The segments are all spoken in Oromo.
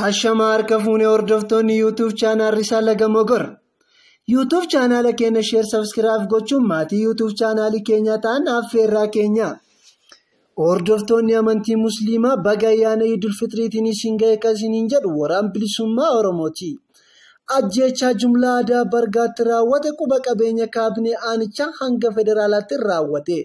Ashamaa harka fuunee hordoftoonni YouTube chaanaal Risaa Laga Mogor. YouTube chaanaala keenya sheer sabskiraayib gochuun maatii YouTube chaanaalii keenyaa ta'an affeerraa keenya. Hordoftoonni amantii Musliimaa baga ayyaana Idul Fitriitiin isin ga'e kan isiniin jedhu waraan bilisummaa Oromooti. Ajjeechaa jumlaa Adaa Bargaatti raawwate quba qabeenya kaabinee aanichaa hanga federaalaatti raawwate.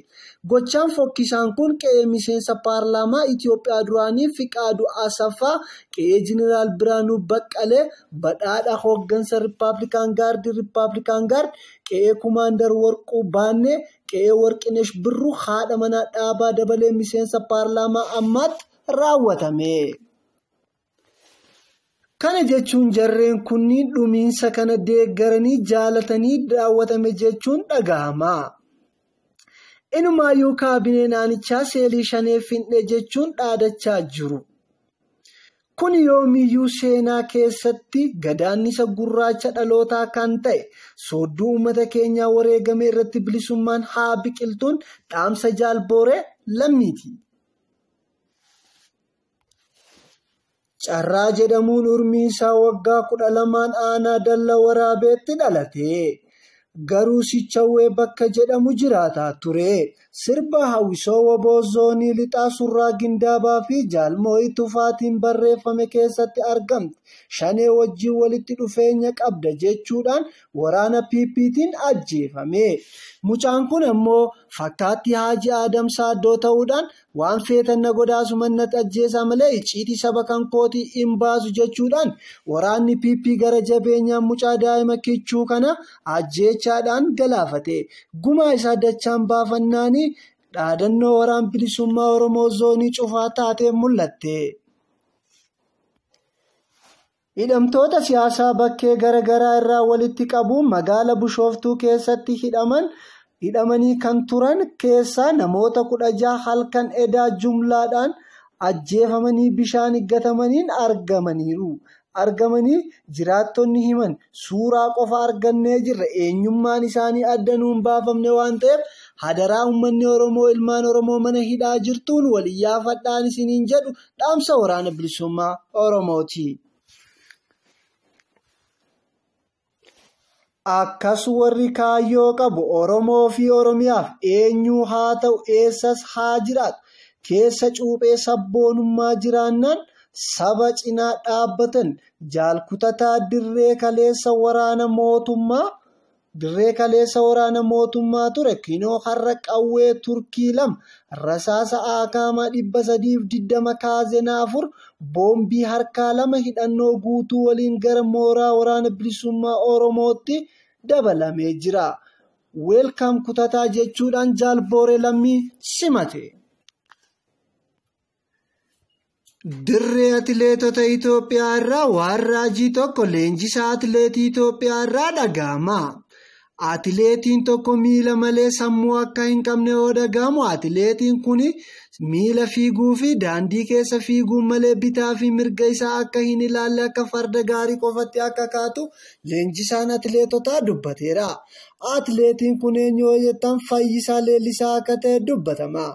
Gochaan fokkisaan kun qe'ee miseensa paarlaamaa Itiyoophiyaa duraanii Fiqaaduu Asaffaa, qe'ee Jeneraal Biraanuu Baqqalee, badhaadha hooggansa Rippaablikaan Gaardii Rippaablikaan Gaard, qe'ee Kumaandar Warquu Baannee, qe'ee Warqinesh Birruu haadha manaa Dhaabaa Dabalee miseensa paarlaamaa ammaatti raawwatame. Kana jechuun jarreen kunniin dhumiinsa kana deeggaranii jaalatanii daawwatame jechuun dhagahama. Inumaayyuu kaabinee naanichaa seelii shanee finne jechuun dhaadachaa jiru. Kun yoomiyyuu seenaa keessatti gadaannisa gurraacha dhalootaa kan ta'e soodduu uummata keenyaa wareegame irratti bilisummaan haa biqiltuun dhaamsa jaalbooree lammiiti. Carraa jedhamuun urmii isaa waggaa kudha lamaan aanaa dalla waraabeetti dhalate. Garuu Sichawwee bakka jedhamu jiraataa ture. Sirba Hawwisoo Waboo Zoonii Lixaa Surraa Gindaabaa fi Jaalmoo'ii Tufaatiin barreeffame keessatti argamti. Shanee wajjin walitti dhufeenya qabda jechuudhaan waraana PPtiin ajjeefame. Mucaan kun ammoo fakkaattii Haaji Aadam Saaddoo ta'uudhaan Waan feetan na godhaa asuman nat ajjeesaa malee icciitii saba kan kootii in baasu jechuudhaan waraanni PP gara jabeenyaan mucaa daa'ima kichuu kana ajjeechaadhaan galaafate. Gumaa isaa dachaan baafannaanii dhaadannoo waraan bilisummaa Oromoo zoonii cufaa taatee mul'atte. Hidhamtoota siyaasaa bakkee gara garaa irraa walitti qabuun magaala Bushooftuu keessatti hidhaman hidhamanii kan turan keessaa namoota 16 halkan edaa jumlaadhaan ajjeefamanii bishaan iggatamaniin argamaniiru. argamanii jiraattonni himan suuraa qofa argannee jirra eenyummaan isaanii adda nuun baafamne waan ta'eef hadaraa ummanni Oromoo ilmaan Oromoo mana hidhaa jirtuun wal iyyaafadhaan isiniin jedhu dhaamsa waraana bilisummaa Oromooti. Akkas warri kaayyoo qabu Oromoo fi Oromiyaaf eenyuu haa ta'u eessas haa jiraatu keessa cuuphee sabboonummaa jiraannaan saba cinaa dhaabbatan jaalkutataa dirree kaleessa waraana mootummaa Dirree kaleessa waraana mootummaa ture kinoo har'a qawwee Turkii 2, rasaasa Aakaama 320 Kaazena 4, boombii harkaa 2 hidhannoo guutuu waliin gara mooraa waraana bilisummaa Oromootti dabalamee jira. Welcome kutataa jechuudhaan Jaal Booree Lammii simate. Dirree atileetota Itoophiyaa irraa waan raajii tokko leenjisaa atileetii Itoophiyaa irraa dhaga'ama. Atileetiin tokko miila malee sammuu akka hin qabne yoo dhaga'amu atileetiin kun miila fiiguu fi daandii keessa fiiguun malee bitaa fi mirga isaa akka hin ilaalle akka farda gaarii qofatti akka kaatu leenjisaan atileetotaa dubbateera. Atileetiin kun eenyu yoo jettan Fayyisaa Leellisaa akka ta'e dubbatama.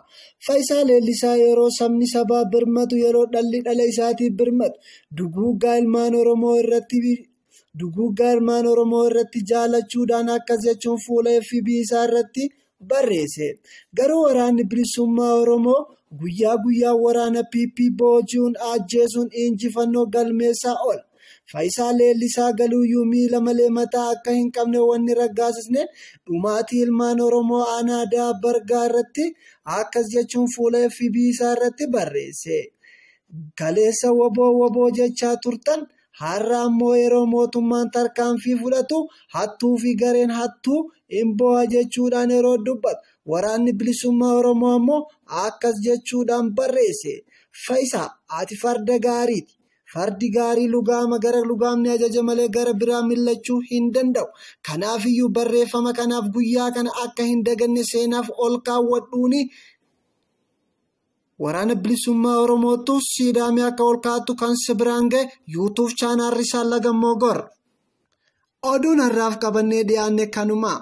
Fayisaa Leellisaa yeroo sabni sabaaf birmatu, yeroo dhalli dhala isaatiif birmatu, duguuggaa ilmaan Oromoo irratti duguuggaa ilmaan Oromoo irratti jaalachuudhaan akkas jechuun fuula FB isaa irratti barreesse. Garuu waraanni bilisummaa Oromoo guyyaa guyyaan waraana PP booji'uun ajjeesuun injifannoo galmeessaa oola. Fayisaa Leellisaa galuuyyuu miila malee mataa akka hin qabne wanni raggaasisne dhumaatii ilmaan Oromoo aanaa Daab Bargaa irratti akkas jechuun fuula FB isaa irratti barreesse. Kaleessa wbo wbo jechaa turtan har'a ammoo yeroo mootummaan tarkaanfii fudhatu hattuu fi gareen hattuu in booha jechuudhaan yeroo dubbatu waraanni bilisummaa Oromoo ammoo akkas jechuudhaan barreesse. Fayisaa ati farda gaariiti. Fardi gaarii lugaama gara lugaamni ajaje malee gara biraa millachuu hin danda'u. Kanaafiyyuu barreeffama kanaaf guyyaa kana akka hin daganne seenaaf ol kaawwadhuuni waraana bilisummaa Oromoottu siidaamee akka ol kaa'attu kan si biraan ga'e yuutuuf chaanaarri isaa lagammoo gor. Oduun har'aaf qabannee dhiyaanne kanuma.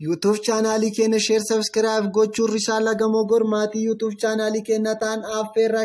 Yuutuuf chaanaalii keenya sheer sabiskiraayib gochuun risaa lagamoo gor maatii yuutuuf chaanaalii keenya ta'an affeerraa